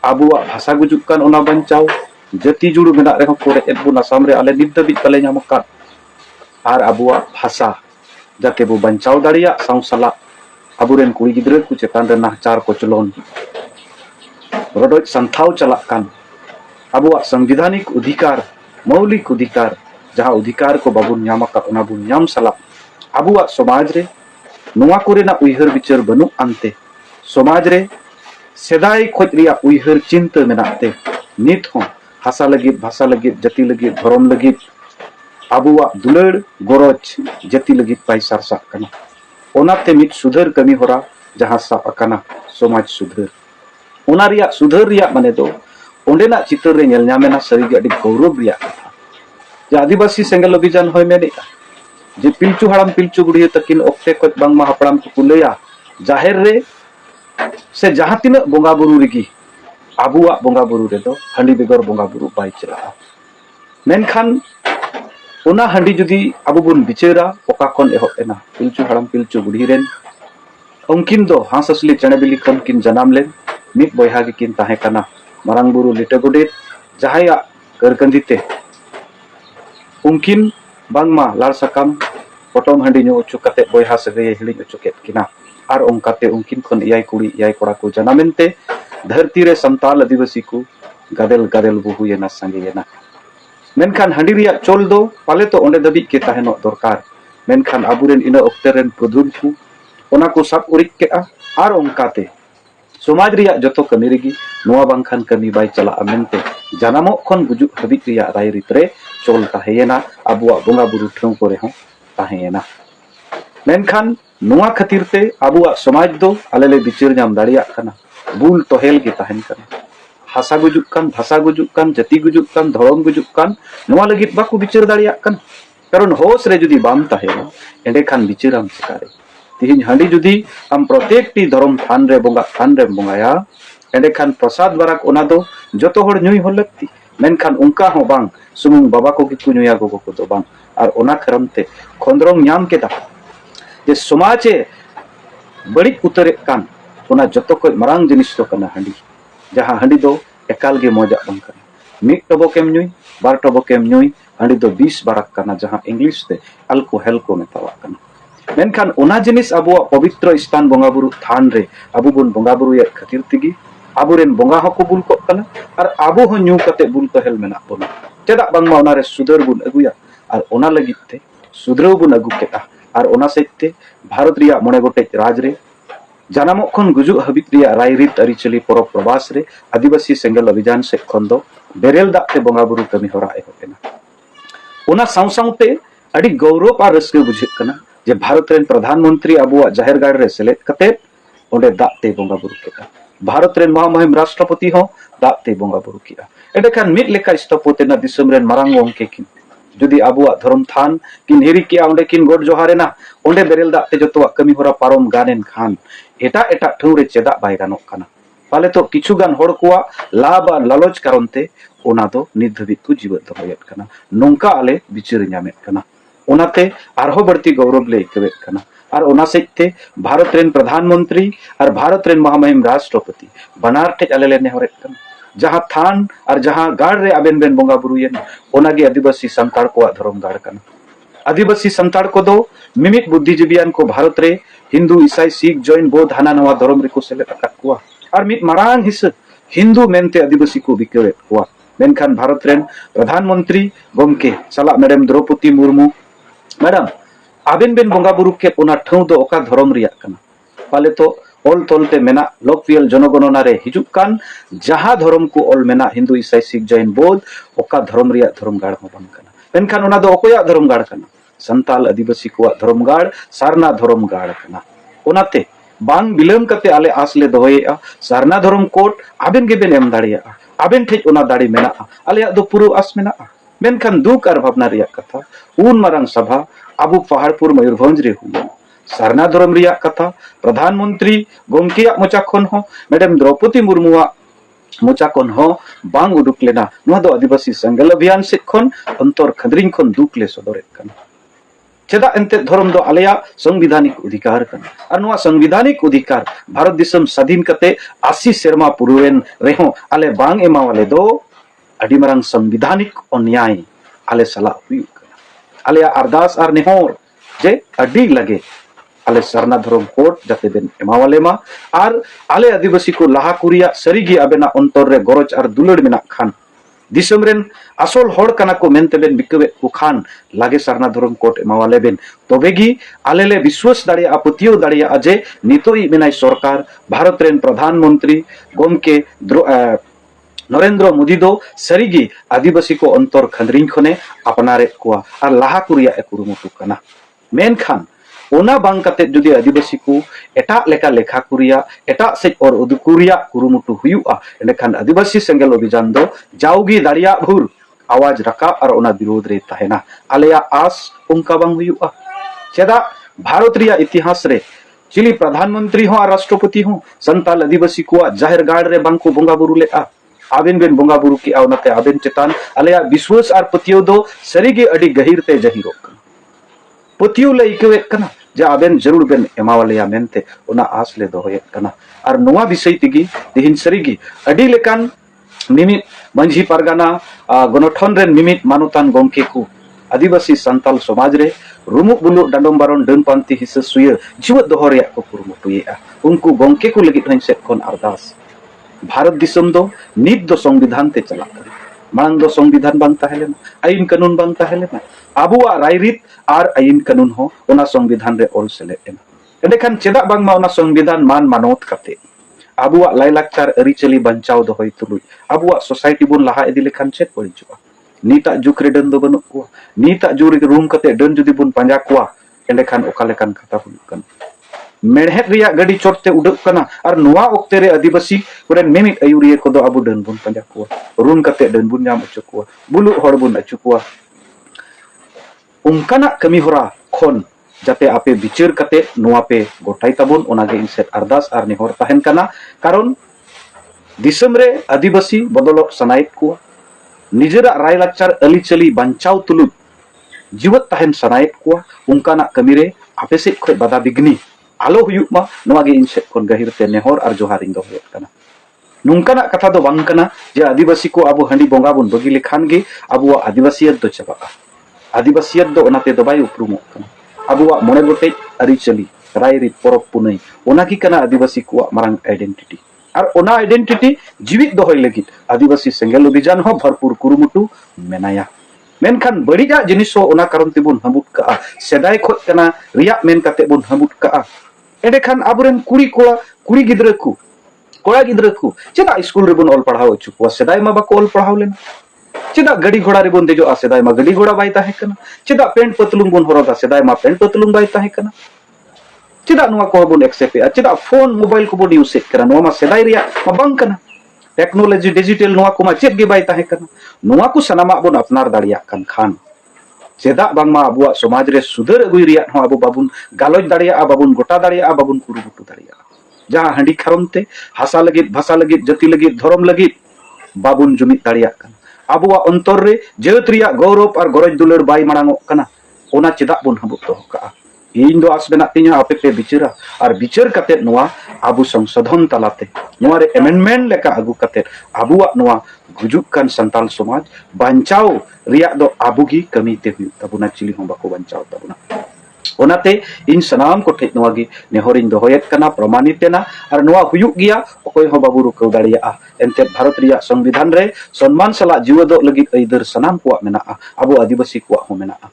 ᱟᱵᱚᱣᱟᱜ ᱵᱷᱟᱥᱟ ᱜᱩᱡᱩᱜ ᱠᱟᱱ ᱚᱱᱟ ᱵᱟᱧᱪᱟᱣ ᱡᱟᱹᱛᱤ ᱡᱩᱲ ᱢᱮᱱᱟᱜ ᱨᱮᱦᱚᱸ ᱠᱚ ᱨᱮᱡ ᱮᱫ ᱵᱚᱱᱟ ᱥᱟᱢᱨᱮ ᱟᱞᱮ ᱱᱤᱛ ᱫᱷᱟᱹᱵᱤᱡ ᱵᱟᱞᱮ ᱧᱟᱢ ᱟᱠᱟᱫ ᱟᱨ ᱟᱵᱚᱣᱟᱜ ᱵᱷᱟᱥᱟ ᱡᱟᱛᱮ ᱵᱚ ᱵᱟᱧᱪᱟᱣ ᱫᱟᱲᱮᱭᱟᱜ ᱥᱟᱶ ᱥᱟᱞᱟᱜ ᱟᱵᱚᱨᱮᱱ ᱠᱩᱲᱤ ᱜᱤᱫᱽᱨᱟᱹ ᱠᱚ ᱪᱮᱛᱟᱱ ᱨᱮ ᱱᱟᱦᱟᱪᱟᱨ ᱠᱚᱪᱞᱚᱱ ᱨᱚᱰᱚᱡ ᱥᱟᱱᱛᱷᱟᱣ ᱪᱟᱞᱟᱜ ᱠᱟᱱ ᱟᱵᱚᱣᱟᱜ ᱥᱟᱝᱵᱤᱫᱷᱟᱱᱤᱠ ᱚᱫᱷᱤᱠᱟᱨ ᱢᱚᱣᱞᱤᱠ ᱚᱫᱷᱤᱠᱟᱨ ᱡᱟᱦᱟᱸ ᱚᱫᱷᱤᱠᱟᱨ ᱠᱚ ᱵᱟᱵᱚᱱ ᱧᱟᱢ ᱟᱠᱟᱫ ᱚᱱᱟ ᱵᱚᱱ ᱧᱟᱢ ᱥᱟᱞᱟᱜ ᱟᱵᱚᱣᱟᱜ ᱥᱚᱢᱟᱡᱽ ᱨᱮ ᱱᱚᱣᱟ ᱠᱚᱨᱮᱱᱟᱜ ᱩᱭᱦᱟᱹᱨ ᱵᱤᱪᱟᱹᱨ ᱵᱟᱹᱱᱩᱜ ᱟᱱᱛᱮ ᱥᱚᱢᱟᱡᱽ ᱨᱮ ᱥᱮᱫᱟᱭ ᱠᱷᱚᱡ ᱨᱮᱭᱟᱜ ᱩᱭᱦᱟᱹᱨ ᱪᱤᱱᱛᱟᱹ ᱢᱮᱱᱟᱜ ᱛᱮ ᱱᱤᱛ ᱦᱚᱸ ᱦᱟᱥᱟ ᱞᱟᱹᱜᱤᱫ ᱵᱷᱟᱥᱟ ᱞᱟᱹᱜᱤᱫ ᱡᱟᱹᱛᱤ ᱞᱟᱹᱜᱤᱫ ᱫᱷᱚᱨᱚᱢ ᱞᱟᱹᱜᱤᱫ ᱟᱵᱚᱣᱟᱜ ᱫᱩᱞᱟᱹᱲ ᱜᱚᱨᱚᱡᱽ ᱡᱟᱹᱛᱤ ᱞᱟᱹᱜᱤᱫ ᱵᱟᱭ ᱥᱟᱨᱥᱟᱜ ᱠᱟᱱᱟ ᱚᱱᱟᱛᱮ ᱢᱤᱫ ᱥᱩᱫᱷᱟᱹᱨ ᱠᱟᱹᱢᱤ ᱦᱚᱨᱟ ᱡᱟᱦᱟᱸ ᱥᱟᱵ ᱟᱠᱟᱱᱟ ᱥᱚᱢᱟᱡᱽ ᱥᱩᱫᱷᱟᱹᱨ ᱚᱱᱟ ᱨᱮᱭᱟᱜ ᱥᱩᱫᱷᱟᱹᱨ ᱨᱮᱭᱟᱜ ᱢᱟᱱᱮ ᱫᱚ ᱚᱸᱰᱮᱱᱟᱜ ᱪᱤᱛᱟᱹᱨ ᱨᱮ ᱧᱮᱞ ᱧᱟᱢᱮᱱᱟ ᱥᱟᱹᱨᱤᱜᱮ ᱟᱹᱰᱤ ᱜᱚᱨᱚᱵᱽ ᱨᱮᱭᱟᱜ ᱠᱟᱛᱷᱟ ᱡᱮ ᱟᱹᱫᱤᱵᱟᱹᱥᱤ ᱥᱮᱸᱜᱮᱞ ᱚᱵᱷᱤᱡᱟᱱ ᱦᱚᱸᱭ ᱢᱮᱱᱮᱫᱼᱟ ᱡᱮ ᱯᱤᱞᱪᱩ ᱦᱟᱲᱟᱢ ᱯᱤᱞᱪᱩ ᱵᱩᱲᱦᱤ ᱛᱟᱹᱠᱤᱱ ᱚᱠᱛᱮ ᱠᱷᱚᱱ ᱵᱟᱝᱢᱟ ᱦᱟᱯᱲᱟᱢ ᱠᱚᱠᱚ ᱞᱟᱹᱭᱟ ᱡᱟᱦᱮᱨ ᱨᱮ ᱥᱮ ᱡᱟᱦᱟᱸ ᱛᱤᱱᱟᱹᱜ ᱵᱚᱸᱜᱟ ᱵᱩᱨᱩ ᱨᱮᱜᱮ ᱟᱵᱚᱣᱟᱜ ᱵᱚᱸᱜᱟ ᱵᱩᱨᱩ ᱨᱮᱫᱚ ᱦᱟᱺᱰᱤ ᱵᱮᱜᱚᱨ ᱵᱚᱸᱜᱟ ᱵᱩᱨᱩ ᱵᱟᱭ ᱪᱟᱞᱟᱜᱼᱟ ᱢᱮᱱᱠᱷᱟᱱ ᱚᱱᱟ ᱦᱟᱺᱰᱤ ᱡᱩᱫᱤ ᱟᱵᱚ ᱵᱚᱱ ᱵᱤᱪᱟᱹᱨᱟ ᱚᱠᱟ ᱠᱷᱚᱱ ᱮᱦᱚᱵ ᱮᱱᱟ ᱯᱤᱞᱪᱩ ᱦᱟᱲᱟᱢ ᱯᱤᱞᱪᱩ ᱵᱩᱰᱷᱤ ᱨᱮᱱ ᱩᱱᱠᱤᱱ ᱫᱚ ᱦᱟᱸᱥᱼᱦᱟᱹᱥᱞᱤ ᱪᱮᱬᱮ ᱵᱤᱞᱤ ᱠᱷᱚᱱ ᱠᱤᱱ ᱡᱟᱱᱟᱢ ᱞᱮᱱ ᱢᱤᱫ ᱵᱚᱭᱦᱟ ᱜᱮᱠᱤᱱ ᱛᱟᱦᱮᱸ ᱠᱟᱱᱟ ᱢᱟᱨᱟᱝ ᱵᱩᱨᱩ ᱞᱤᱴᱟᱹ ᱜᱚᱰᱮᱛ ᱡᱟᱦᱟᱸᱭᱟᱜ ᱠᱟᱹᱨᱠᱟᱹᱸᱫᱤ ᱛᱮ ᱩᱱᱠᱤᱱ ᱵᱟᱝᱢᱟ ᱞᱟᱲ ᱥᱟᱠᱟᱢ ᱯᱚᱴᱚᱢ ᱦᱟᱺᱰᱤ ᱧᱩ ᱚᱪᱚ ᱠᱟᱛᱮ ᱵᱚᱭᱦᱟ ᱥᱟᱹᱜᱟᱹᱭᱮ ᱦᱤᱲᱤᱧ ᱚᱪᱚ ᱠᱮᱫ ᱠᱤᱱᱟ ᱟᱨ ᱚᱱᱠᱟᱛᱮ ᱩᱱᱠᱤᱱ ᱠᱷᱚᱱ ᱮᱭᱟᱭ ᱠᱩᱲᱤ ᱮᱭᱟᱭ ᱠᱚᱲᱟ ᱠᱚ ᱡᱟᱱᱟᱢᱮᱱ ᱛᱮ ᱫᱷᱟᱹᱨᱛᱤ ᱨᱮ ᱥᱟᱱᱛᱟᱞ ᱟᱹᱫᱤᱵᱟᱹᱥᱤ ᱠᱚ ᱜᱟᱫᱮᱞ ᱜᱟᱫᱮᱞ ᱵᱚ ᱦᱩᱭᱮᱱᱟ ᱥᱟᱸᱜᱮᱭᱮᱱᱟ ᱢᱮᱱᱠᱷᱟᱱ ᱦᱟᱺᱰᱤ ᱨᱮᱭᱟᱜ ᱪᱚᱞ ᱫᱚ ᱯᱟᱞᱮ ᱛᱚ ᱚᱸᱰᱮ ᱫᱷᱟᱹᱵᱤᱡ ᱜᱮ ᱛᱟᱦᱮᱱᱚᱜ ᱫᱚᱨᱠᱟᱨ ᱢᱮᱱᱠᱷᱟᱱ ᱟᱵᱚᱨᱮᱱ ᱤᱱᱟᱹ ᱚᱠᱛᱮ ᱨᱮᱱ ᱯᱨᱚᱫᱷᱩᱞ ᱠᱚ ᱚᱱᱟ ᱠᱚ ᱥᱟᱵ ᱩᱨᱤᱡ ᱠᱮᱫᱼᱟ ᱟᱨ ᱚᱱᱠᱟᱛᱮ ᱥᱚᱢᱟᱡᱽ ᱨᱮᱭᱟᱜ ᱡᱚᱛᱚ ᱠᱟᱹᱢᱤ ᱨᱮᱜᱮ ᱱᱚᱣᱟ ᱵᱟᱝᱠᱷᱟᱱ ᱠᱟᱹᱢᱤ ᱵᱟᱭ ᱪᱟᱞᱟᱜᱼᱟ ᱢᱮᱱᱛᱮ ᱡᱟᱱᱟᱢᱚᱜ ᱠᱷᱚᱱ ᱜᱩᱡᱩᱜ ᱦᱟᱹᱵᱤᱡ ᱨᱮᱭᱟᱜ ᱨᱟᱭᱨᱤᱛ ᱨᱮ ᱪᱚᱞ ᱛᱟᱦᱮᱸᱭᱮᱱᱟ ᱟᱵᱚᱣᱟᱜ ᱵᱚᱸᱜᱟ ᱵᱩᱨᱩ ᱴᱷᱟᱹᱣ ᱠᱚᱨᱮ ᱦᱚᱸ ᱛᱟᱦᱮᱸᱭᱮᱱᱟ ᱢᱮᱱᱠᱷᱟᱱ ᱱᱚᱣᱟ ᱠᱷᱟᱹᱛᱤᱨ ᱛᱮ ᱟᱵᱚᱣᱟᱜ ᱥᱚᱢᱟᱡᱽ ᱫᱚ ᱟᱞᱮ ᱞᱮ ᱵᱤᱪᱟᱹᱨ ᱧᱟᱢ ᱫᱟᱲᱮᱭᱟᱜ ᱠᱟᱱᱟ ᱵᱩᱞ ᱛᱚᱦᱮᱞ ᱜᱮ ᱛᱟᱦᱮᱱ ᱠᱟᱱᱟ ᱦᱟᱥᱟ ᱜᱩᱡᱩᱜ ᱠᱟᱱ ᱵᱷᱟᱥᱟ ᱜᱩᱡᱩᱜ ᱠᱟᱱ ᱡᱟᱹᱛᱤ ᱜᱩᱡᱩᱜ ᱠᱟᱱ ᱫᱷᱚᱨᱚᱢ ᱜᱩᱡᱩᱜ ᱠᱟᱱ ᱱᱚᱣᱟ ᱞᱟᱹᱜᱤᱫ ᱵᱟᱠᱚ ᱵᱤᱪᱟᱹᱨ ᱫᱟᱲᱮᱭᱟᱜ ᱠᱟᱱᱟ ᱠᱟᱨᱚᱱ ᱦᱳᱥ ᱨᱮ ᱡᱩᱫᱤ ᱵᱟᱢ ᱛᱟᱦᱮᱱᱟ ᱮᱸᱰᱮ ᱠᱷᱟᱱ ᱵᱤᱪᱟᱹᱨᱟᱢ ᱪᱤᱠᱟᱹᱨᱮ ᱛᱮᱦᱮᱧ ᱦᱟᱺᱰᱤ ᱡᱩᱫᱤ ᱟᱢ ᱯᱨᱚᱛᱮᱠ ᱴᱤ ᱫᱷᱚᱨᱚᱢ ᱛᱷᱟᱱ ᱨᱮ ᱵᱚᱸᱜᱟ ᱛᱷᱟᱱ ᱨᱮᱢ ᱵᱚᱸᱜᱟᱭᱟ ᱮᱸᱰᱮ ᱠᱷᱟᱱ ᱯᱨᱚᱥᱟᱫ ᱵᱟᱨᱟᱠ ᱚᱱᱟ ᱫᱚ ᱡᱚᱛᱚ ᱦᱚᱲ ᱧᱩᱭ ᱦᱚᱸ ᱞᱟᱹᱠᱛᱤ ᱢᱮᱱᱠᱷᱟᱱ ᱚᱱᱠᱟ ᱦᱚᱸ ᱵᱟᱝ ᱥᱩᱢᱩᱝ ᱵᱟᱵᱟ ᱠᱚᱜᱮ ᱠᱚ ᱧᱩᱭᱟ ᱜᱚᱜᱚ ᱠᱚᱫᱚ ᱵᱟᱝ ᱟᱨ ᱚᱱᱟ ᱠᱟᱨᱚᱱ ᱛᱮ ᱠᱷᱚᱸᱫᱽᱨᱚᱝ ᱧᱟᱢ ᱠᱮᱫᱟ ᱡᱮ ᱥᱚᱢᱟᱡᱽ ᱮ ᱵᱟᱹᱲᱤᱡ ᱩᱛᱟᱹᱨᱮᱫ ᱠᱟᱱ ᱚᱱᱟ ᱡᱚᱛᱚ ᱠᱷᱚᱱ ᱢᱟᱨᱟᱝ ᱡᱤᱱᱤᱥ ᱫᱚ ᱠᱟᱱᱟ ᱦᱟᱺᱰᱤ ᱡᱟᱦᱟᱸ ᱦᱟᱺᱰᱤ ᱫᱚ ᱮᱠᱟᱞ ᱜᱮ ᱢᱚᱡᱟᱜ ᱵᱟᱝ ᱠᱟᱱᱟ ᱢᱤᱫ ᱴᱚᱵᱚᱠᱮᱢ ᱧᱩᱭ ᱵᱟᱨ ᱴᱚᱵᱚᱠᱮᱢ ᱧᱩᱭ ᱦᱟᱺᱰᱤ ᱫᱚ ᱵᱤᱥ ᱵᱟᱨᱟᱠ ᱠᱟᱱᱟ ᱡᱟᱦᱟᱸ ᱤᱝᱞᱤᱥ ᱛᱮ ᱟᱞᱠᱳᱦᱮᱞ ᱠᱚ ᱢᱮᱛᱟᱣᱟᱜ ᱠᱟᱱᱟ ᱢᱮᱱᱠᱷᱟᱱ ᱚᱱᱟ ᱡᱤᱱᱤᱥ ᱟᱵᱚᱣᱟᱜ ᱯᱚᱵᱤᱛᱨᱚ ᱥᱛᱷᱟᱱ ᱵᱚᱸᱜᱟ ᱵᱩᱨᱩ ᱛᱷᱟᱱ ᱨᱮ ᱟᱵᱚ ᱵᱚᱱ ᱵᱚᱸᱜᱟ ᱵᱩᱨᱩᱭᱮᱫ ᱠᱷᱟᱹᱛᱤᱨ ᱛᱮᱜᱮ ᱟᱵᱚᱨᱮᱱ ᱵᱚᱸᱜᱟ ᱦᱚᱸᱠᱚ ᱵᱩᱞ ᱠᱚᱜ ᱠᱟᱱᱟ ᱟᱨ ᱟᱵᱚ ᱦᱚᱸ ᱧᱩ ᱠᱟᱛᱮ ᱵᱩᱞ ᱛᱚᱦᱮᱞ ᱢᱮᱱᱟᱜ ᱵᱚᱱᱟ ᱪᱮᱫᱟᱜ ᱵᱟᱝᱢᱟ ᱚᱱᱟᱨᱮ ᱥᱩᱫᱷᱟᱹᱨ ᱵᱚᱱ ᱟᱹᱜᱩᱭᱟ ᱟᱨ ᱚᱱᱟ ᱞᱟᱹᱜᱤᱫ ᱛᱮ ᱥᱩᱫᱷᱨᱟᱹᱣ ᱵᱚᱱ ᱟᱹᱜᱩ ᱠᱮᱫᱟ ᱟᱨ ᱚᱱᱟ ᱥᱮᱫ ᱛᱮ ᱵᱷᱟᱨᱚᱛ ᱨᱮᱭᱟᱜ ᱢᱚᱬᱮ ᱜᱚᱴᱮᱡ ᱨᱟᱡᱽ ᱨᱮ ᱡᱟᱱᱟᱢᱚᱜ ᱠᱷᱚᱱ ᱜᱩᱡᱩᱜ ᱦᱟᱹᱵᱤᱡ ᱨᱮᱭᱟᱜ ᱨᱟᱭᱨᱤᱛ ᱟᱹᱨᱤᱪᱟᱹᱞᱤ ᱯᱚᱨᱚᱵᱽ ᱯᱨᱚᱵᱟᱥ ᱨᱮ ᱟᱹᱫᱤᱵᱟᱹᱥᱤ ᱥᱮᱸᱜᱮᱞ ᱚᱵᱷᱤᱡᱟᱱ ᱥᱮᱫ ᱠᱷᱚᱱ ᱫᱚ ᱵᱮᱨᱮᱞ ᱫᱟᱜ ᱛᱮ ᱵᱚᱸᱜᱟ ᱵᱩᱨᱩ ᱠᱟᱹᱢᱤ ᱦᱚᱨᱟ ᱮᱦᱚᱵ ᱮᱱᱟ ᱚᱱᱟ ᱥᱟᱶ ᱥᱟᱶᱛᱮ ᱟᱹᱰᱤ ᱜᱚᱨᱚᱵ ᱟᱨ ᱨᱟᱹᱥᱠᱟᱹ ᱵᱩᱡᱷᱟᱹᱜ ᱠᱟᱱᱟ ᱡᱮ ᱵᱷᱟᱨᱚᱛ ᱨᱮᱱ ᱯᱨᱚᱫᱷᱟᱱ ᱢᱚᱱᱛᱨᱤ ᱟᱵᱚᱣᱟᱜ ᱡᱟᱦᱮᱨ ᱜᱟᱲ ᱨᱮ ᱥᱮᱞᱮᱫ ᱠᱟᱛᱮ ᱚᱸᱰᱮ ᱫᱟᱜ ᱛᱮ ᱵᱚᱸᱜᱟ ᱵᱩᱨᱩ ᱠᱮᱫᱟ ᱵᱷᱟᱨᱚᱛ ᱨᱮᱱ ᱢᱚᱦᱟᱢᱚᱦᱤᱢ ᱨᱟᱥᱴᱨᱚᱯᱚᱛᱤ ᱦᱚᱸ ᱫᱟᱜ ᱛᱮ ᱵᱚᱸᱜᱟ ᱵᱩᱨᱩ ᱠᱮᱫᱟ ᱮᱸᱰᱮᱠᱷᱟᱱ ᱢᱤᱫ ᱞᱮᱠᱟ ᱥᱛᱷᱟᱯᱚᱛ ᱨᱮᱱᱟᱜ ᱫᱤᱥᱚᱢ ᱨᱮᱱ ᱢᱟᱨᱟᱝ ᱜᱚᱢᱠᱮ ᱠᱤᱱ ᱡᱩᱫᱤ ᱟᱵᱚᱣᱟᱜ ᱫᱷᱚᱨᱚᱢ ᱛᱷᱟᱱ ᱠᱤᱱ ᱦᱤᱨᱤ ᱠᱮᱜᱼᱟ ᱚᱸᱰᱮ ᱠᱤᱱ ᱜᱚᱰ ᱡᱚᱦᱟᱨ ᱮᱱᱟ ᱚᱸᱰᱮ ᱵᱮᱨᱮᱞ ᱫᱟᱜ ᱛᱮ ᱡᱚᱛᱚᱣᱟᱜ ᱠᱟᱹᱢᱤ ᱦᱚᱨᱟ ᱯᱟᱨᱚᱢ ᱜᱟᱱ ᱮᱱ ᱠᱷᱟᱱ ᱮᱴᱟᱜ ᱮᱴᱟᱜ ᱴᱷᱟᱹᱣ ᱨᱮ ᱪᱮᱫᱟᱜ ᱵᱟᱭ ᱜᱟᱱᱚᱜ ᱠᱟᱱᱟ ᱯᱟᱞᱮ ᱛᱚ ᱠᱤᱪᱷᱩ ᱜᱟᱱ ᱦᱚᱲ ᱠᱚᱣᱟᱜ ᱞᱟᱵᱷ ᱟᱨ ᱞᱟᱞᱚᱪ ᱠᱟᱨᱚᱱ ᱛᱮ ᱚᱱᱟ ᱫᱚ ᱱᱤᱛ ᱫᱷᱟᱹᱵᱤᱡ ᱠᱚ ᱡᱤᱣᱮᱫ ᱫᱚᱦᱚᱭᱮᱫ ᱠᱟᱱᱟ ᱱᱚᱝᱠᱟ ᱟᱞᱮ ᱵᱤᱪᱟᱹᱨ ᱧᱟᱢᱮᱫ ᱠᱟᱱᱟ ᱚᱱᱟᱛᱮ ᱟᱨᱦᱚᱸ ᱵᱟᱹᱲᱛᱤ ᱜᱚᱨᱚᱵᱽ ᱞᱮ ᱟᱹᱭᱠᱟᱹᱣᱮᱫ ᱠᱟᱱᱟ ᱟᱨ ᱚᱱᱟ ᱥᱮᱡ ᱛᱮ ᱵᱷᱟᱨᱚᱛ ᱨᱮᱱ ᱯᱨᱚᱫᱷᱟᱱ ᱢᱚᱱᱛᱨᱤ ᱟᱨ ᱵᱷᱟᱨᱚᱛ ᱨᱮᱱ ᱢᱚᱦᱟᱢᱚᱦᱤᱢ ᱨᱟᱥᱴᱨᱚᱯᱚᱛᱤ ᱵᱟᱱᱟᱨ ᱴᱷᱮᱡ ᱟᱞᱮ ᱞᱮ ᱱᱮᱦᱚᱨᱮᱫ ᱠᱟᱱᱟ ᱡᱟᱦᱟᱸ ᱛᱷᱟᱱ ᱟᱨ ᱡᱟᱦᱟᱸ ᱜᱟᱲ ᱨᱮ ᱟᱵᱮᱱ ᱵᱮᱱ ᱵᱚᱸᱜᱟ ᱵᱩᱨᱩᱭᱮᱱ ᱚᱱᱟ ᱜᱮ ᱟᱹᱫᱤᱵᱟᱹᱥᱤ ᱥᱟᱱᱛᱟᱲ ᱠᱚᱣᱟᱜ ᱫᱷᱚᱨᱚᱢ ᱜᱟᱲ ᱠᱟᱱᱟ ᱟᱹᱫᱤᱵᱟᱹᱥᱤ ᱥᱟᱱᱛᱟᱲ ᱠᱚᱫᱚ ᱢᱤᱢᱤᱫ ᱵᱩᱫᱽᱫᱷᱤᱡᱤᱵᱤᱭᱟᱱ ᱠᱚ ᱵᱷᱟᱨᱚᱛ ᱨᱮ ᱦᱤᱱᱫᱩ ᱤᱥᱟᱭ ᱥᱤᱠᱷ ᱡᱚᱭᱱ ᱵᱳᱫᱷ ᱦᱟᱱᱟ ᱱᱟᱣᱟ ᱫᱷᱚᱨᱚᱢ ᱨᱮᱠᱚ ᱥᱮᱞᱮᱫ ᱟᱠᱟᱫ ᱠᱚᱣᱟ ᱟᱨ ᱢᱤᱫ ᱢᱟᱨᱟᱝ ᱦᱤᱥᱟᱹ ᱦᱤᱱᱫᱩ ᱢᱮᱱᱛᱮ ᱟᱹᱫᱤᱵᱟᱹᱥᱤ ᱠᱚ ᱵᱤᱠᱟᱹᱣᱮᱫ ᱠᱚᱣᱟ ᱢᱮᱱᱠᱷᱟᱱ ᱵᱷᱟᱨᱚᱛ ᱨᱮᱱ ᱯᱨᱚᱫᱷᱟᱱ ᱢᱚᱱᱛᱨᱤ ᱜᱚᱢᱠᱮ ᱥᱟᱞᱟᱜ ᱢᱮᱰᱟᱢ ᱫᱨᱚᱯᱚᱫᱤ ᱢᱩᱨᱢᱩ ᱢᱮᱰᱟᱢ ᱟᱵᱮᱱ ᱵᱮᱱ ᱵᱚᱸᱜᱟ ᱵᱩᱨᱩ ᱠᱮᱫ ᱚᱱᱟ ᱴᱷᱟᱹᱣ ᱫᱚ ᱚᱠᱟ ᱫᱷᱚᱨᱚᱢ ᱨᱮᱭᱟᱜ ᱠᱟᱱᱟ ᱯᱟᱞᱮ ᱛᱚ ᱚᱞ ᱛᱚᱞ ᱛᱮ ᱢᱮᱱᱟᱜ ᱞᱚᱠᱯᱤᱭᱚᱞ ᱡᱚᱱᱚᱜᱚᱱᱚᱱᱟ ᱨᱮ ᱦᱤᱡᱩᱜ ᱠᱟᱱ ᱡᱟᱦᱟᱸ ᱫᱷᱚᱨᱚᱢ ᱠᱚ ᱚᱞ ᱢᱮᱱᱟᱜ ᱦᱤᱱᱫᱩ ᱤᱥᱟᱭ ᱥᱤᱠᱷ ᱡᱚᱭᱱ ᱵᱳᱫᱷ ᱚᱠᱟ ᱫᱷᱚᱨᱚᱢ ᱨᱮᱭᱟᱜ ᱫᱷᱚᱨᱚᱢ ᱜᱟᱲ ᱦᱚᱸ ᱵᱟᱝ ᱠᱟᱱᱟ ᱢᱮᱱᱠᱷᱟᱱ ᱚᱱᱟ ᱫᱚ ᱚᱠᱚᱭᱟᱜ ᱫᱷᱚᱨᱚᱢ ᱜᱟᱲ ᱠᱟᱱᱟ ᱥᱟᱱᱛᱟᱞ ᱟᱹᱫᱤᱵᱟᱹᱥᱤ ᱠᱚᱣᱟᱜ ᱫᱷᱚᱨᱚᱢ ᱜᱟᱲ ᱥᱟᱨᱱᱟ ᱫᱷᱚᱨᱚᱢ ᱜᱟᱲ ᱠᱟᱱᱟ ᱚᱱᱟᱛᱮ ᱵᱟᱝ ᱵᱤᱞᱚᱢ ᱠᱟᱛᱮ ᱟᱞᱮ ᱟᱥ ᱞᱮ ᱫᱚᱦᱚᱭᱮᱜᱼᱟ ᱥᱟᱨᱱᱟ ᱫᱷᱚᱨᱚᱢ ᱠᱳᱰ ᱟᱵᱮᱱ ᱜᱮᱵᱮᱱ ᱮᱢ ᱫᱟᱲᱮᱭᱟᱜᱼᱟ ᱟᱵᱮᱱ ᱴᱷᱮᱡ ᱚᱱᱟ ᱫᱟᱲᱮ ᱢᱮᱱᱟᱜᱼᱟ ᱟᱞᱮᱭᱟᱜ ᱫᱚ ᱯᱩᱨᱟᱹ ᱟᱥ ᱢᱮᱱᱟᱜᱼᱟ ᱢᱮᱱᱠᱷᱟᱱ ᱫᱩᱠ ᱟᱨ ᱵᱷᱟᱵᱽᱱᱟ ᱨᱮᱭᱟᱜ ᱠᱟᱛᱷᱟ ᱩᱱ ᱢᱟᱨᱟᱝ ᱥᱟᱵᱷᱟ ᱟᱵᱚ ᱯᱟᱦᱟᱲᱯᱩᱨ ᱢᱚᱭᱩᱨᱵᱷᱚᱸᱡᱽ ᱨᱮ ᱦᱩᱭ ᱮᱱᱟ ᱥᱟᱨᱱᱟ ᱫᱷᱚᱨᱚᱢ ᱨᱮᱭᱟᱜ ᱠᱟᱛᱷᱟ ᱯᱨᱚᱫᱷᱟᱱ ᱢᱚᱱᱛᱨᱤ ᱜᱚᱢᱠᱮᱭᱟᱜ ᱢᱚᱪᱟ ᱠᱷᱚᱱ ᱦᱚᱸ ᱢᱮᱰᱟᱢ ᱫᱨᱚᱯᱚᱫᱤ ᱢᱩᱨᱢᱩᱣᱟᱜ ᱢᱚᱪᱟ ᱠᱷᱚᱱ ᱦᱚᱸ ᱵᱟᱝ ᱩᱰᱩᱠ ᱞᱮᱱᱟ ᱱᱚᱣᱟ ᱫᱚ ᱟᱹᱫᱤᱵᱟᱹᱥᱤ ᱥᱮᱸᱜᱮᱞ ᱚᱵᱷᱤᱭᱟᱱ ᱥᱮᱫ ᱠᱷᱚᱱ ᱚᱱᱛᱚᱨ ᱠᱷᱟᱹᱫᱽᱨᱤᱧ ᱠᱷᱚᱱ ᱫᱩᱠ ᱞᱮ ᱥᱚᱫᱚᱨᱮᱫ ᱠᱟᱱᱟ ᱪᱮᱫᱟᱜ ᱮᱱᱛᱮ ᱫᱷᱚᱨᱚᱢ ᱫᱚ ᱟᱞᱮᱭᱟᱜ ᱥᱚᱝᱵᱤᱫᱷᱟᱱᱤᱠ ᱚᱫᱷᱤᱠᱟᱨ ᱠᱟᱱᱟ ᱟᱨ ᱱᱚᱣᱟ ᱥᱚᱝᱵᱤᱫᱷᱟᱱᱤᱠ ᱚᱫᱷᱤᱠᱟᱨ ᱵᱷᱟᱨᱚᱛ ᱫᱤᱥᱚᱢ ᱥᱟᱹᱫᱷᱤᱱ ᱠᱟᱛᱮ ᱟᱥᱤ ᱥᱮᱨᱢᱟ ᱯᱩᱨᱟᱹᱣᱮᱱ ᱨᱮᱦᱚᱸ ᱟᱞᱮ ᱵᱟᱝ ᱮᱢᱟᱣᱟᱞᱮ ᱫᱚ ᱟᱹᱰᱤ ᱢᱟᱨᱟᱝ ᱥᱚᱝᱵᱤᱫᱷᱟᱱᱤᱠ ᱚᱱᱭᱟᱭ ᱟᱞᱮ ᱥᱟᱞᱟᱜ ᱦᱩᱭᱩᱜ ᱠᱟᱱᱟ ᱟᱞᱮᱭᱟᱜ ᱟᱨᱫᱟᱥ ᱟᱨ ᱱᱮᱦᱚᱨ ᱡᱮ ᱟᱹᱰᱤ ᱞᱟᱜᱮ ᱟᱞᱮ ᱥᱟᱨᱱᱟ ᱫᱷᱚᱨᱚᱢ ᱠᱳᱰ ᱡᱟᱛᱮ ᱵᱮᱱ ᱮᱢᱟᱣᱟᱞᱮ ᱢᱟ ᱟᱨ ᱟᱞᱮ ᱟᱹᱫᱤᱵᱟᱹᱥᱤ ᱠᱚ ᱞᱟᱦᱟ ᱠᱚ ᱨᱮᱭᱟᱜ ᱥᱟᱹᱨᱤᱜᱮ ᱟᱵᱮᱱᱟᱜ ᱚᱱᱛᱚᱨ ᱨᱮ ᱜᱚᱨᱚᱡᱽ ᱟᱨ ᱫᱩᱞᱟᱹᱲ ᱢᱮᱱᱟᱜ ᱠᱷᱟᱱ ᱫᱤᱥᱚᱢ ᱨᱮᱱ ᱟᱥᱚᱞ ᱦᱚᱲ ᱠᱟᱱᱟ ᱠᱚ ᱢᱮᱱᱛᱮ ᱵᱮᱱ ᱵᱤᱠᱟᱹᱣᱮᱫ ᱠᱚ ᱠᱷᱟᱱ ᱞᱟᱜᱮ ᱥᱟᱨᱱᱟ ᱫᱷᱚᱨᱚᱢ ᱠᱳᱰ ᱮᱢᱟᱣᱟᱞᱮ ᱵᱮᱱ ᱛᱚᱵᱮ ᱜᱮ ᱟᱞᱮ ᱞᱮ ᱵᱤᱥᱣᱟᱥ ᱫᱟᱲᱮᱭᱟᱜᱼᱟ ᱯᱟᱹᱛᱭᱟᱹᱣ ᱫᱟᱲᱮᱭᱟᱜᱼᱟ ᱡᱮ ᱱᱤᱛᱚᱜ ᱤᱡ ᱢᱮᱱᱟᱭ ᱥᱚᱨᱠᱟᱨ ᱵᱷᱟᱨᱚᱛ ᱨᱮᱱ ᱯᱨᱚᱫᱷᱟᱱ ᱢᱚᱱᱛᱨᱤ ᱜᱚᱢᱠᱮ ᱱᱚᱨᱮᱱᱫᱨᱚ ᱢᱳᱫᱤ ᱫᱚ ᱥᱟᱹᱨᱤᱜᱮ ᱟᱹᱫᱤᱵᱟᱹᱥᱤ ᱠᱚ ᱚᱱᱛᱚᱨ ᱠᱷᱟᱹᱫᱽᱨᱤᱧ ᱠᱷᱚᱱᱮ ᱟᱯᱱᱟᱨᱮᱫ ᱠᱚᱣᱟ ᱟᱨ ᱞᱟᱦᱟ ᱠᱚ ᱨᱮᱭᱟᱜ ᱮ ᱠᱩᱨᱩᱢᱩᱴᱩ ᱠᱟᱱᱟ ᱢᱮᱱᱠᱷᱟᱱ ᱚᱱᱟ ᱵᱟᱝ ᱠᱟᱛᱮ ᱡᱩᱫᱤ ᱟᱹᱫᱤᱵᱟᱹᱥᱤ ᱠᱚ ᱮᱴᱟᱜ ᱞᱮᱠᱟ ᱞᱮᱠᱷᱟ ᱠᱚ ᱨᱮᱭᱟᱜ ᱮᱴᱟᱜ ᱥᱮᱡ ᱚᱨ ᱩᱫᱩ ᱠᱚ ᱨᱮᱭᱟᱜ ᱠᱩᱨᱩᱢᱩᱴᱩ ᱦᱩᱭᱩᱜᱼᱟ ᱮᱸᱰᱮᱠᱷᱟᱱ ᱟᱹᱫᱤᱵᱟᱹᱥᱤ ᱥᱮᱸᱜᱮᱞ ᱚᱵᱷᱤᱡᱟᱱ ᱫᱚ ᱡᱟᱣᱜᱮ ᱫᱟᱲᱮᱭᱟᱜ ᱵᱷᱩᱨ ᱟᱣᱟᱡᱽ ᱨᱟᱠᱟᱵ ᱟᱨ ᱚᱱᱟ ᱵᱤᱨᱳᱫᱷ ᱨᱮ ᱛᱟᱦᱮᱱᱟ ᱟᱞᱮᱭᱟᱜ ᱟᱥ ᱚᱱᱠᱟ ᱵᱟᱝ ᱦᱩᱭᱩᱜᱼᱟ ᱪᱮᱫᱟᱜ ᱵᱷᱟᱨᱚᱛ ᱨᱮᱭᱟᱜ ᱤᱛᱤᱦᱟᱥ ᱨᱮ ᱪᱤᱞᱤ ᱯᱨᱚᱫᱷᱟᱱ ᱢᱚᱱᱛᱨᱤ ᱦᱚᱸ ᱟᱨ ᱨᱟᱥᱴᱨᱚᱯᱚᱛᱤ ᱦᱚᱸ ᱥᱟᱱᱛᱟᱞ ᱟᱹᱫᱤᱵᱟᱹᱥᱤ ᱠᱚᱣᱟᱜ ᱡᱟᱦᱮᱨ ᱜᱟᱲ ᱨᱮ ᱵᱟᱝ ᱠᱚ ᱵᱚᱸᱜᱟ ᱵᱩᱨᱩ ᱞᱮᱫᱼᱟ ᱟᱵᱮᱱ ᱵᱮᱱ ᱵᱚᱸᱜᱟ ᱵᱩᱨᱩ ᱠᱮᱜᱼᱟ ᱚᱱᱟᱛᱮ ᱟᱵᱮᱱ ᱪᱮᱛᱟᱱ ᱟᱞᱮᱭᱟᱜ ᱵᱤᱥᱣᱟᱥ ᱟᱨ ᱯᱟᱹᱛᱭᱟᱹᱣ ᱫᱚ ᱥᱟᱹᱨᱤᱜᱮ ᱟᱹᱰᱤ ᱜᱟᱹᱦᱤᱨ ᱛᱮ ᱡᱟᱹᱦᱤᱨᱚᱜ ᱠᱟᱱᱟ ᱯᱟᱹᱛᱭᱟᱹᱣ ᱞᱮ ᱟᱹᱭᱠᱟᱹᱣᱮᱫ ᱠᱟᱱᱟ ᱡᱮ ᱟᱵᱮᱱ ᱡᱟᱹᱨᱩᱲ ᱵᱮᱱ ᱮᱢᱟᱣᱟᱞᱮᱭᱟ ᱢᱮᱱᱛᱮ ᱚᱱᱟ ᱟᱥ ᱞᱮ ᱫᱚᱦᱚᱭᱮᱫ ᱠᱟᱱᱟ ᱟᱨ ᱱᱚᱣᱟ ᱵᱤᱥᱚᱭ ᱛᱮᱜᱮ ᱛᱮᱦᱮᱧ ᱥᱟᱹᱨᱤᱜᱮ ᱟᱹᱰᱤ ᱞᱮᱠᱟᱱ ᱢᱤᱢᱤᱫ ᱢᱟᱹᱡᱷᱤ ᱯᱟᱨᱜᱟᱱᱟ ᱜᱚᱱᱚᱴᱷᱚᱱ ᱨᱮᱱ ᱢᱤᱢᱤᱫ ᱢᱟᱱᱚᱛᱟᱱ ᱜᱚᱢᱠᱮ ᱠᱚ ᱟᱹᱫᱤᱵᱟᱹᱥᱤ ᱥᱟᱱᱛᱟᱞ ᱥᱚᱢᱟᱡᱽ ᱨᱮ ᱨᱩᱢᱩᱜ ᱵᱩᱞᱩᱜ ᱰᱟᱸᱰᱚᱢ ᱵᱟᱨᱚᱱ ᱰᱟᱹᱱ ᱯᱟᱱᱛᱤ ᱦᱤᱥᱟᱹ ᱥᱩᱭᱟᱹ ᱡᱤᱣᱮᱫ ᱫᱚᱦᱚ ᱨᱮᱭᱟᱜ ᱠᱚ ᱠᱩᱨᱩᱢᱩᱴᱩᱭᱮᱫᱼᱟ ᱩᱱᱠᱩ ᱜᱚᱢᱠᱮ ᱠᱚ ᱞᱟᱹᱜᱤᱫ ᱦᱚᱸ ᱤᱧ ᱥᱮᱫ ᱠᱷᱚᱱ ᱟᱨᱫᱟᱥ ᱵᱷᱟᱨᱚᱛ ᱫᱤᱥᱚᱢ ᱫᱚ ᱱᱤᱛ ᱫᱚ ᱥᱚᱝᱵᱤᱫᱷᱟᱱ ᱛᱮ ᱪᱟᱞᱟᱜ ᱠᱟᱱᱟ ᱢᱟᱲᱟᱝ ᱫᱚ ᱥᱚᱝᱵᱤᱫᱷᱟᱱ ᱵᱟᱝ ᱛᱟᱦᱮᱸ ᱞᱮᱱᱟ ᱟᱹᱭᱤᱱ ᱠᱟᱹᱱᱩᱱ ᱵᱟᱝ ᱛᱟᱦᱮᱸ ᱞᱮᱱᱟ ᱟᱵᱚᱣᱟᱜ ᱨᱟᱭᱨᱤᱛ ᱟᱨ ᱟᱹᱭᱤᱱ ᱠᱟᱹᱱᱩᱱ ᱦᱚᱸ ᱚᱱᱟ ᱥᱚᱝᱵᱤᱫᱷᱟᱱ ᱨᱮ ᱚᱞ ᱥᱮᱞᱮᱫ ᱮᱱᱟ ᱮᱸᱰᱮᱠᱷᱟᱱ ᱪᱮᱫᱟᱜ ᱵᱟᱝᱢᱟ ᱚᱱᱟ ᱥᱚᱝᱵᱤᱫᱷᱟᱱ ᱢᱟᱱ ᱢᱟᱱᱚᱛ ᱠᱟᱛᱮ ᱟᱵᱚᱣᱟᱜ ᱞᱟᱭᱞᱟᱠᱪᱟᱨ ᱟᱹᱨᱤᱪᱟᱹᱞᱤ ᱵᱟᱧᱪᱟᱣ ᱫᱚᱦᱚᱭ ᱛᱩᱞᱩᱡ ᱟᱵᱚᱣᱟᱜ ᱥᱳᱥᱟᱭᱴᱤ ᱵᱚᱱ ᱞᱟᱦᱟ ᱤᱫᱤ ᱞᱮᱠᱷᱟᱱ ᱪᱮᱫ ᱵᱟᱹᱲᱤᱡᱚᱜᱼᱟ? ᱱᱤᱛᱟᱜ ᱡᱩᱜᱽ ᱨᱮ ᱰᱟᱹᱱ ᱫᱚ ᱵᱟᱹᱱᱩᱜ ᱠᱚᱣᱟ᱾ ᱱᱤᱛᱟᱜ ᱡᱩᱜᱽ ᱨᱮ ᱨᱩᱢ ᱠᱟᱛᱮ ᱰᱟᱹᱱ ᱡᱩᱫᱤ ᱵᱚᱱ ᱯᱟᱸᱡᱟ ᱠᱚᱣᱟ ᱮᱸᱰᱮᱠᱷᱟᱱ ᱚᱠᱟ ᱞᱮᱠᱟᱱ ᱠᱟᱛᱷᱟ ᱦᱩᱭᱩᱜ ᱠᱟᱱᱟ᱾ ᱢᱮᱬᱦᱮᱫ ᱨᱮᱭᱟᱜ ᱜᱟᱹᱰᱤ ᱪᱚᱴ ᱛᱮ ᱩᱰᱟᱹᱜ ᱠᱟᱱᱟ ᱟᱨ ᱱᱚᱣᱟ ᱚᱠᱛᱮ ᱨᱮ ᱟᱹᱫᱤᱵᱟᱹᱥᱤ ᱠᱚᱨᱮᱱ ᱢᱤᱢᱤᱫ ᱟᱹᱭᱩᱨᱤᱭᱟᱹ ᱠᱚᱫᱚ ᱟᱵᱚ ᱰᱟᱹᱱ ᱵᱚᱱ ᱯᱟᱸᱡᱟ ᱠᱚᱣᱟ, ᱨᱩᱢ ᱠᱟᱛᱮ ᱰᱟᱹᱱ ᱵᱚᱱ ᱧᱟᱢ ᱚᱪᱚ ᱠᱚᱣᱟ, ᱵᱩᱞᱩᱜ ᱦᱚᱲ ᱵᱚᱱ ᱟᱹᱪᱩ ᱠᱚᱣᱟ᱾ ᱚᱱᱠᱟᱱᱟᱜ ᱠᱟᱹᱢᱤ ᱦᱚᱨᱟ ᱠᱷᱚᱱ ᱡᱟᱛᱮ ᱟᱯᱮ ᱵᱤᱪᱟᱹᱨ ᱠᱟᱛᱮ ᱱᱚᱣᱟ ᱯᱮ ᱜᱚᱴᱟᱭ ᱛᱟᱵᱚᱱ ᱚᱱᱟ ᱜᱮ ᱤᱧ ᱥᱮᱫ ᱟᱨᱫᱟᱥ ᱟᱨ ᱱᱮᱦᱚᱨ ᱛᱟᱦᱮᱱ ᱠᱟᱱᱟ ᱠᱟᱨᱚᱱ ᱫᱤᱥᱚᱢ ᱨᱮ ᱟᱹᱫᱤᱵᱟᱹᱥᱤ ᱵᱚᱫᱚᱞᱚᱜ ᱥᱟᱱᱟᱭᱮᱫ ᱠᱚᱣᱟ ᱱᱤᱡᱮᱨᱟᱜ ᱨᱟᱭ ᱞᱟᱠᱪᱟᱨ ᱟᱹᱞᱤᱪᱟᱹᱞᱤ ᱵᱟᱧᱪᱟᱣ ᱛᱩᱞᱩᱡ ᱡᱤᱣᱮᱫ ᱛᱟᱦᱮᱱ ᱥᱟᱱᱟᱭᱮᱫ ᱠᱚᱣᱟ ᱚᱱᱠᱟᱱᱟᱜ ᱠᱟᱹᱢᱤ ᱨᱮ ᱟᱯᱮ ᱥᱮᱫ ᱠᱷᱚᱱ ᱵᱟᱫᱟ ᱵᱤᱜᱽᱱᱤ ᱟᱞᱚ ᱦᱩᱭᱩᱜ ᱢᱟ ᱱᱚᱣᱟ ᱜᱮ ᱤᱧ ᱥᱮᱫ ᱠᱷᱚᱱ ᱜᱟᱹᱦᱤᱨ ᱛᱮ ᱱᱮᱦᱚᱨ ᱟᱨ ᱡᱚᱦᱟᱨ ᱤᱧ ᱫᱚᱦᱚᱭᱮᱫ ᱠᱟᱱᱟ ᱱᱚᱝᱠᱟᱱᱟᱜ ᱠᱟᱛᱷᱟ ᱫᱚ ᱵᱟᱝ ᱠᱟᱱᱟ ᱡᱮ ᱟᱹᱫᱤᱵᱟᱹᱥᱤ ᱠᱚ ᱟᱵᱚ ᱦᱟᱺᱰᱤ ᱵᱚᱸᱜᱟ ᱵᱚᱱ ᱵᱟᱹᱜᱤ ᱞᱮᱠᱷᱟᱱ ᱜᱮ ᱟᱵᱚᱣᱟᱜ ᱟᱹᱫᱤᱵᱟᱹᱥᱤᱭᱟᱹᱛ ᱫᱚ ᱪᱟᱵᱟᱜᱼᱟ ᱟᱹᱫᱤᱵᱟᱹᱥᱤᱭᱟᱹᱛ ᱫᱚ ᱚᱱᱟ ᱛᱮᱫᱚ ᱵᱟᱭ ᱩᱯᱨᱩᱢᱚᱜ ᱠᱟᱱᱟ ᱟᱵᱚᱣᱟᱜ ᱢᱚᱬᱮ ᱜᱚᱴᱮᱡ ᱟᱹᱨᱤᱪᱟᱹᱞᱤ ᱨᱟᱭᱨᱤᱛ ᱯᱚᱨᱚᱵᱽ ᱯᱩᱱᱟᱹᱭ ᱚᱱᱟ ᱜᱮ ᱠᱟᱱᱟ ᱟᱹᱫᱤᱵᱟᱹᱥᱤ ᱠᱚᱣᱟᱜ ᱢᱟᱨᱟᱝ ᱟᱭᱰᱮᱱᱴᱤᱴᱤ ᱟᱨ ᱚᱱᱟ ᱟᱭᱰᱮᱱᱴᱤᱴᱤ ᱡᱤᱣᱤᱫ ᱫᱚᱦᱚᱭ ᱞᱟᱹᱜᱤᱫ ᱟᱹᱫᱤᱵᱟᱹᱥᱤ ᱥᱮᱸᱜᱮᱞ ᱚᱵᱷᱤᱡᱟᱱ ᱦᱚᱸ ᱵᱷᱚᱨᱯᱩᱨ ᱠᱩᱨᱩᱢᱩᱴᱩ ᱢᱮᱱᱟᱭᱟ ᱢᱮᱱᱠᱷᱟᱱ ᱵᱟᱹᱲᱤᱡᱟᱜ ᱡᱤᱱᱤᱥ ᱦᱚᱸ ᱚᱱᱟ ᱠᱟᱨᱚᱱ ᱛᱮᱵᱚᱱ ᱦᱟᱹᱵᱩᱫ ᱠᱟᱜᱼᱟ ᱥᱮᱫᱟᱭ ᱠᱷᱚᱡ ᱠᱟᱱᱟ ᱨᱮᱭᱟᱜ ᱢᱮᱱ ᱠᱟᱛᱮ ᱵᱚᱱ ᱦᱟᱹᱵᱩᱫ ᱠᱟᱜᱼᱟ ᱮᱸᱰᱮᱠᱷᱟᱱ ᱟᱵᱚᱨᱮᱱ ᱠᱩᱲᱤ ᱠᱚᱲᱟ ᱠᱩᱲᱤ ᱜᱤᱫᱽᱨᱟᱹ ᱠᱚ ᱠᱚᱲᱟ ᱜᱤᱫᱽᱨᱟᱹ ᱠᱚ ᱪᱮᱫᱟᱜ ᱥᱠᱩᱞ ᱨᱮᱵᱚᱱ ᱚᱞ ᱯᱟᱲᱦᱟᱣ ᱦᱚᱪᱚ ᱠᱚᱣᱟ ᱥᱮᱫᱟᱭ ᱢᱟ ᱵᱟᱠᱚ ᱚᱞ ᱯᱟᱲᱦᱟᱣ ᱞᱮᱱᱟ ᱪᱮᱫᱟᱜ ᱜᱟᱹᱰᱤ ᱜᱷᱚᱲᱟ ᱨᱮᱵᱚᱱ ᱫᱮᱡᱚᱜᱼᱟ ᱥᱮᱫᱟᱭ ᱢᱟ ᱜᱟᱹᱰᱤ ᱜᱷᱚᱲᱟ ᱵᱟᱭ ᱛᱟᱦᱮᱸ ᱠᱟᱱᱟ ᱪᱮᱫᱟᱜ ᱯᱮᱱᱴ ᱯᱟᱹᱛᱞᱩᱝ ᱵᱚᱱ ᱦᱚᱨᱚᱜᱟ ᱥᱮᱫᱟᱭ ᱢᱟ ᱯᱮᱱᱴ ᱯᱟᱹᱛᱞᱩᱝ ᱵᱟᱭ ᱛᱟᱦᱮᱸ ᱠᱟᱱᱟ ᱪᱮᱫᱟᱜ ᱱᱚᱣᱟ ᱠᱚ ᱵᱚᱱ ᱮᱠᱥᱮᱯᱴ ᱮᱜᱼᱟ ᱪᱮᱫᱟᱜ ᱯᱷᱳᱱ ᱢᱳᱵᱟᱭᱤᱞ ᱠᱚᱵᱚᱱ ᱤᱭᱩᱡᱽ ᱮᱫ ᱠᱟᱱᱟ ᱱᱚᱣᱟ ᱢᱟ ᱥᱮᱫᱟᱭ ᱨᱮᱭᱟᱜ ᱢᱟ ᱵᱟᱝ ᱠᱟᱱᱟ ᱴᱮᱠᱱᱳᱞᱚᱡᱤ ᱰᱤᱡᱤᱴᱟᱞ ᱱᱚᱣᱟ ᱠᱚᱢᱟ ᱪᱮᱫ ᱜᱮ ᱵᱟᱭ ᱛᱟᱦᱮᱸ ᱠᱟᱱᱟ ᱱᱚᱣᱟ ᱠᱚ ᱥᱟᱱᱟᱢᱟᱜ ᱵᱚᱱ ᱟᱯᱱᱟᱨ ᱫᱟᱲᱮᱭᱟᱜ ᱠᱟᱱ ᱠᱷᱟᱱ ᱪᱮᱫᱟᱜ ᱵᱟᱝᱢᱟ ᱟᱵᱚᱣᱟᱜ ᱥᱚᱢᱟᱡᱽ ᱨᱮ ᱥᱩᱫᱷᱟᱹᱨ ᱟᱹᱜᱩᱭ ᱨᱮᱭᱟᱜ ᱦᱚᱸ ᱟᱵᱚ ᱵᱟᱵᱚᱱ ᱜᱟᱞᱚᱪ ᱫᱟᱲᱮᱭᱟᱜᱼᱟ ᱵᱟᱵᱚᱱ ᱜᱚᱴᱟ ᱫᱟᱲᱮᱭᱟᱜᱼᱟ ᱵᱟᱵᱚᱱ ᱠᱩᱨᱩᱢᱩᱴᱩ ᱫᱟᱲᱮᱭᱟᱜᱼᱟ ᱡᱟᱦᱟᱸ ᱦᱟᱺᱰᱤ ᱠᱷᱟᱨᱚᱢ ᱛᱮ ᱦᱟᱥᱟ ᱞᱟᱹᱜᱤᱫ ᱵᱷᱟᱥᱟ ᱞᱟᱹᱜᱤᱫ ᱡᱟᱹᱛᱤ ᱞᱟᱹᱜᱤᱫ ᱫᱷᱚᱨᱚᱢ ᱞᱟᱹᱜᱤᱫ ᱵᱟᱵᱚᱱ ᱡᱩᱢᱤᱫ ᱫᱟᱲᱮᱭᱟᱜ ᱠᱟᱱᱟ ᱟᱵᱚᱣᱟᱜ ᱚᱱᱛᱚᱨ ᱨᱮ ᱡᱟᱹᱛ ᱨᱮᱭᱟᱜ ᱜᱚᱨᱚᱵ ᱟᱨ ᱜᱚᱨᱚᱡᱽ ᱫᱩᱞᱟᱹᱲ ᱵᱟᱭ ᱢᱟᱲᱟᱝᱚᱜ ᱠᱟᱱᱟ ᱚᱱᱟ ᱪᱮᱫᱟᱜ ᱵᱚᱱ ᱦᱟᱹᱵᱩᱫ ᱫᱚᱦᱚ ᱠᱟᱜᱼᱟ ᱤᱧ ᱫᱚ ᱟᱥ ᱢᱮᱱᱟᱜ ᱛᱤᱧᱟ ᱟᱯᱮ ᱯᱮ ᱵᱤᱪᱟᱹᱨᱟ ᱟᱨ ᱵᱤᱪᱟᱹᱨ ᱠᱟᱛᱮ ᱱᱚᱣᱟ ᱟᱵᱚ ᱥᱚᱝᱥᱳᱫᱷᱚᱱ ᱛᱟᱞᱟᱛᱮ ᱱᱚᱣᱟ ᱨᱮ ᱮᱢᱮᱱᱰᱢᱮᱱᱴ ᱞᱮᱠᱟ ᱟᱹᱜᱩ ᱠᱟᱛᱮ ᱟᱵᱚᱣᱟᱜ ᱱᱚᱣᱟ ᱜᱩᱡᱩᱜ ᱠᱟᱱ ᱥᱟᱱᱛᱟᱲ ᱥᱚᱢᱟᱡᱽ ᱵᱟᱧᱪᱟᱣ ᱨᱮᱭᱟᱜ ᱫᱚ ᱟᱵᱚ ᱜᱮ ᱠᱟᱹᱢᱤ ᱛᱮ ᱦᱩᱭᱩᱜ ᱛᱟᱵᱚᱱᱟ ᱪᱤᱞᱤ ᱦᱚᱸ ᱵᱟᱠᱚ ᱵᱟᱧᱪᱟᱣ ᱛᱟᱵᱚᱱᱟ ᱚᱱᱟᱛᱮ ᱤᱧ ᱥᱟᱱᱟᱢ ᱠᱚ ᱴᱷᱮᱡ ᱱᱚᱣᱟ ᱜᱮ ᱱᱮᱦᱚᱨᱤᱧ ᱫᱚᱦᱚᱭᱮᱫ ᱠᱟᱱᱟ ᱯᱨᱚᱢᱟᱱᱤᱛ ᱮᱱᱟ ᱟᱨ ᱱᱚᱣᱟ ᱦᱩᱭᱩᱜ ᱜᱮᱭᱟ ᱚᱠᱚᱭ ᱦᱚᱸ ᱵᱟᱵᱚ ᱨᱩᱠᱟᱹᱣ ᱫᱟᱲᱮᱭᱟᱜᱼᱟ ᱮᱱᱛᱮ ᱵᱷᱟᱨᱚᱛ ᱨᱮᱭᱟᱜ ᱥᱚᱝᱵᱤᱫᱷᱟᱱ ᱨᱮ ᱥᱚᱱᱢᱟᱱ ᱥᱟᱞᱟᱜ ᱡᱤᱣᱟᱹᱫᱚᱜ ᱞᱟᱹᱜᱤᱫ ᱟᱹᱭᱫᱟᱹᱨ ᱥᱟᱱᱟᱢ ᱠᱚᱣᱟᱜ ᱢᱮᱱᱟᱜᱼᱟ ᱟᱵᱚ ᱟᱹᱫᱤᱵᱟᱹᱥᱤ ᱠᱚᱣᱟᱜ ᱦᱚᱸ ᱢᱮᱱᱟᱜᱼᱟ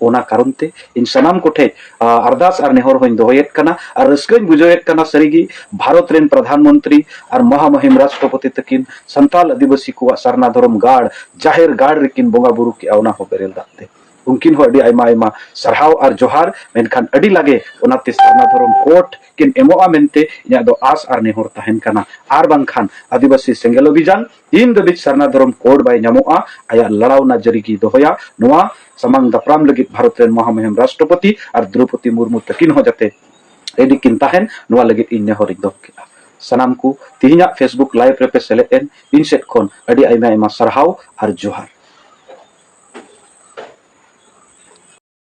ᱚᱱᱟ ᱠᱟᱨᱚᱱ ᱛᱮ ᱤᱧ ᱥᱟᱱᱟᱢ ᱠᱚᱴᱷᱮᱡ ᱟᱨᱫᱟᱥ ᱟᱨ ᱱᱮᱦᱚᱨ ᱦᱚᱧ ᱫᱚᱦᱚᱭᱮᱫ ᱠᱟᱱᱟ ᱟᱨ ᱨᱟᱹᱥᱠᱟᱹᱧ ᱵᱩᱡᱷᱟᱹᱣᱮᱫ ᱠᱟᱱᱟ ᱥᱟᱹᱨᱤᱜᱮ ᱵᱷᱟᱨᱚᱛ ᱨᱮᱱ ᱯᱨᱚᱫᱷᱟᱱ ᱢᱚᱱᱛᱨᱤ ᱟᱨ ᱢᱚᱦᱟᱢᱚᱦᱤᱢ ᱨᱟᱥᱴᱨᱚᱯᱚᱛᱤ ᱛᱟᱹᱠᱤᱱ ᱥᱟᱱᱛᱟᱞ ᱟᱹᱫᱤᱵᱟᱹᱥᱤ ᱠᱚᱣᱟᱜ ᱥᱟᱨᱱᱟ ᱫᱷᱚᱨᱚᱢ ᱜᱟᱲ ᱡᱟᱦᱮᱨ ᱜᱟᱲ ᱨᱮᱠᱤᱱ ᱵᱚᱸᱜᱟ ᱵᱩᱨᱩ ᱠᱮᱜᱼᱟ ᱚᱱᱟ ᱦᱚᱸ ᱵᱮᱨᱮᱞ ᱫᱟᱜ ᱛᱮ ᱩᱱᱠᱤᱱ ᱦᱚᱸ ᱟᱹᱰᱤ ᱟᱭᱢᱟ ᱟᱭᱢᱟ ᱥᱟᱨᱦᱟᱣ ᱟᱨ ᱡᱚᱦᱟᱨ ᱢᱮᱱᱠᱷᱟᱱ ᱟᱹᱰᱤ ᱞᱟᱜᱮ ᱚᱱᱟᱛᱮ ᱥᱟᱨᱱᱟ ᱫᱷᱚᱨᱚᱢ ᱠᱳᱴ ᱠᱤᱱ ᱮᱢᱚᱜᱼᱟ ᱢᱮᱱᱛᱮ ᱤᱧᱟᱹᱜ ᱫᱚ ᱟᱥ ᱟᱨ ᱱᱮᱦᱚᱨ ᱛᱟᱦᱮᱱ ᱠᱟᱱᱟ ᱟᱨ ᱵᱟᱝᱠᱷᱟᱱ ᱟᱹᱫᱤᱵᱟᱹᱥᱤ ᱥᱮᱸᱜᱮᱞ ᱚᱵᱷᱤᱡᱟᱱ ᱛᱤᱱ ᱫᱷᱟᱹᱵᱤᱡ ᱥᱟᱨᱱᱟ ᱫᱷᱚᱨᱚᱢ ᱠᱳᱰ ᱵᱟᱭ ᱧᱟᱢᱚᱜᱼᱟ ᱟᱭᱟᱜ ᱞᱟᱲᱟᱣᱱᱟ ᱡᱟᱹᱨᱤ ᱜᱮᱭ ᱫᱚᱦᱚᱭᱟ ᱱᱚᱣᱟ ᱥᱟᱢᱟᱝ ᱫᱟᱯᱨᱟᱢ ᱞᱟᱹᱜᱤᱫ ᱵᱷᱟᱨᱚᱛ ᱨᱮᱱ ᱢᱚᱦᱟᱢᱩᱦᱤᱢ ᱨᱟᱥᱴᱨᱚᱯᱚᱛᱤ ᱟᱨ ᱫᱨᱚᱯᱚᱫᱤ ᱢᱩᱨᱢᱩ ᱛᱟᱹᱠᱤᱱ ᱦᱚᱸ ᱡᱟᱛᱮ ᱨᱮᱰᱤ ᱠᱤᱱ ᱛᱟᱦᱮᱱ ᱱᱚᱣᱟ ᱞᱟᱹᱜᱤᱫ ᱤᱧ ᱱᱮᱦᱚᱨ ᱤᱧ ᱫᱚᱦᱚ ᱠᱮᱫᱼᱟ ᱥᱟᱱᱟᱢ ᱠᱚ ᱛᱮᱦᱮᱧᱟᱜ ᱯᱷᱮᱥᱵᱩᱠ ᱞᱟᱭᱤᱵᱷ ᱨᱮᱯᱮ ᱥᱮᱞᱮᱫ ᱮᱱ ᱤᱧ ᱥᱮᱫ ᱠᱷᱚᱱ ᱟᱹᱰᱤ ᱟᱭᱢᱟ ᱟᱭᱢᱟ ᱥᱟᱨᱦᱟᱣ ᱟᱨ ᱡᱚᱦᱟᱨ